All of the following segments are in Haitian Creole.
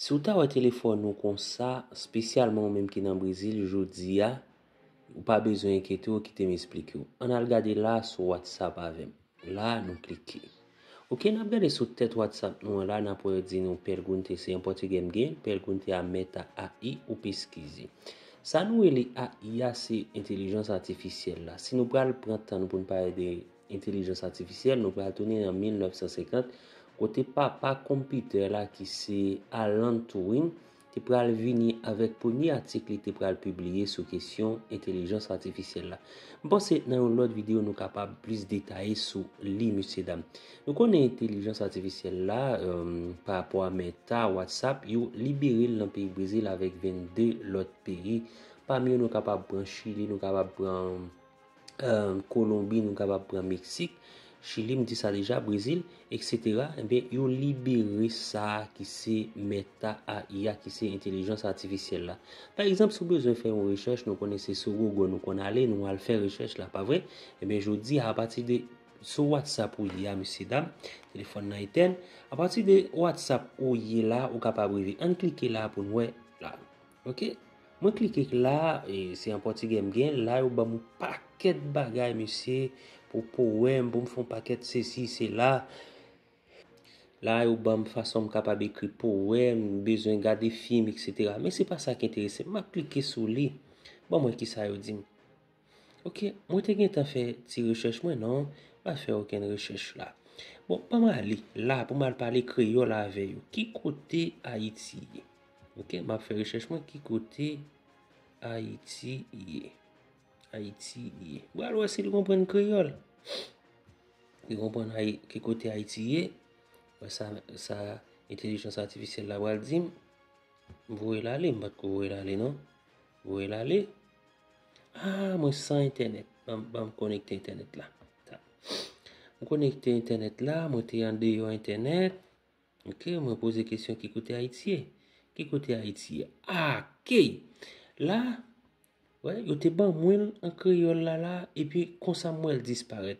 Si w ta wè telefòn ou konsa, spesyalman ou menm ki nan Brezil jodi a, ou pa bezwen enkyete w, kite m esplike w. Ann al gade la sou WhatsApp avè m. La a nou klike. Ok, n ap gade sou tèt WhatsApp nou an la, n ap wè yo di nou pergunte, se an pòtigè m gen, pergunte a meta AI ou peskize. Sa nou rele AI a se entelijans atifisyèl la. Si nou pral pran tan nou pou n pale de. Entelijans atifisyèl, nou pral tounen an 1950, kote papa konpitè la ki se Alan Turing te pral vini avèk premye atik li te pral pibliye sou kesyon entelijans atifisyèl la. M panse nan yon lòt videyo nou kapab plis detaye sou li mesye dam. Nou konnen entelijans atifisyèl la, pa rapò a Meta, WhatsApp, yo libere l nan peyi Brezil avèk 22 lòt peyi, pami yo nou kapab pran Chili, nou kapab pran. Kolonbi nou kapab pran Meksik, Chili m di sa deja, Brezil, eksetera, enben yo libere sa ki se meta a i a ki se entelijans atifisyèl la. Pa egzanp si w bezwen fè yon rechèch nou konnen se sou Google nou konn ale nou al fè rechèch la pa vre, enben jodi a apati de sou WhatsApp ou ye a mesye dam, telefòn nan etèn, apati de WhatsApp ou ye la ou kapab rive. Ann klike la pou n wè la. Ok Mwen klike k la e se an pòtigè m gen la yo banm yon pakèt bagay mesye pou powèm pou m fè yon pakèt sesi sela la yo banm fason m kapab ekri powèm m bezwen gade fim etc men se pa sa k enterese m m ap klike sou li banm wè kisa yo di m. Ok mwen te gentan fè ti rechèch mwen non pa fè okenn rechèch la bon pa mwen ale la pou mwen pale kreyòl avè yo ki kote ayiti ye ok m ap fè rechèch mwen ki kote ayiti ye ayiti ye mwen al wè si l konprann kreyòl li konprann ki kote ayiti ye wè sa entelijans atifisyèl la pral di m m voye l ale m pa t ko voye l ale non m voye l ale Ah mwen san entènèt Banm konekte entènèt la Mwen konekte entènèt la Mwen te andeyò entènèt Ok mwen poze kesyon ki kote ayiti ye Ki kote ayiti ye Ah ok La Yo te banmwenl an kreyòl la la Epi konsa m wèl disparèt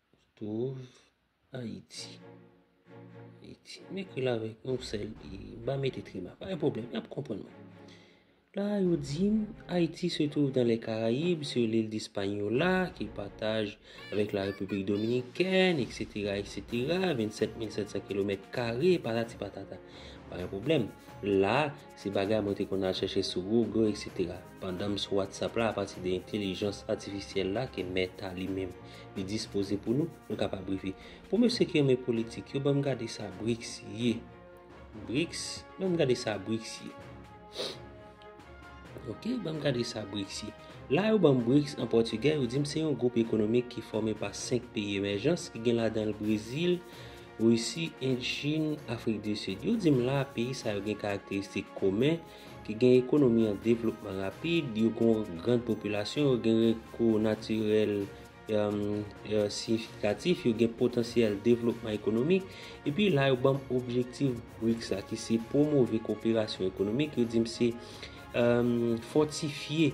Twouv Ayiti. Ayiti. M ekri l avèk yon sèl i. M pa mete trima. Pa gen pwoblèm. Y ap konprann mwen. La a yo di m, Ayiti se twouv dan lè Karayib, sou lil Dispanyola, ki pataj avèk la Repiblik Dominikèn, eksetera, eksetera, 27 mil 700 kilomèt kare, patati patata. Pa gen pwoblèm. La a, Se bagay mwen te konn al chèche sou Google etc. Pandan m sou WhatsApp la apati de entelijans atifisyèl la ke Meta li menm li dispoze pou nou, nou kapab rive. Pou mesye ki renmen politik yo banm gade sa Brics ye. Brics, banm gade sa Brics ye. Ok, banm gade sa Brics ye. La yo banm Brics an pòtigè, yo di m se yon gwoup ekonomik ki fòme pa 5 peyi emèjans ki gen ladan l Brezil, Risi, End, Chin, Afrik di Sid. Yo di m la a peyi sa yo gen karakteristik komen ki gen ekonomi an devlopman rapid, yo gen yon gran popilasyon, yo gen rekou natirèl siyifikatif, yo gen potansyèl devlopman ekonomik. Epi la yo ban m objektif BRICS la ki se pwomove koperasyon ekonomik, yo di m se fòtifye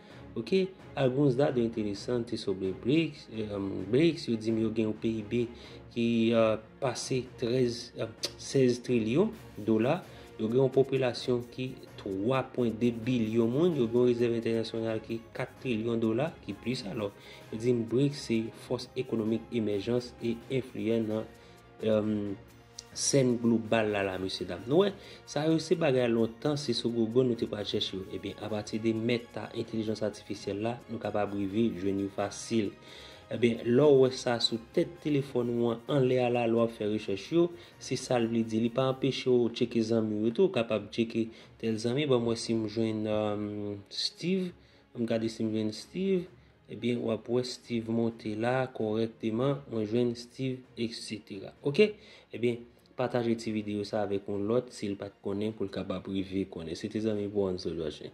Ok, alguns dado interesante sobre BRICS, BRICS yo di m yo gen yon PIB ki pase 13, 16 trilyon dola, yo gen yon popilasyon ki 3.2 bilyon moun, yo gen yon rezèv entènasyonal ki 4 trilyon dola, ki plis alò. Yo di m BRICS se fòs ekonomik emèjans e enfliyan nan Sèn global la la mesye dam. Nou wè, sa yo se bagay lontan se sou gogo nou te pral chèche yo. Ebyen, apati de meta entelijans atifisyèl la, nou kapab rive jwenn yo fasil. Ebyen, lè w wè sa sou tèt telefòn ou an anlè a la lè w ap fè rechèch yo, se sa l vle di. Li pa anpeche w tcheke zanmi w yo tou. Ou kapab tcheke tèl zanmi, ban m wè si m jwenn Steve. An m gade si m jwenn Steve. Ebyen wap wè Steeve monte la kòrèkteman mwen jwenn Steeve etc ok ebyen pataje ti video sa avèk yon lòt sil pat konnen poul kapab rive konnen se te zanmi Bronzo Joshen.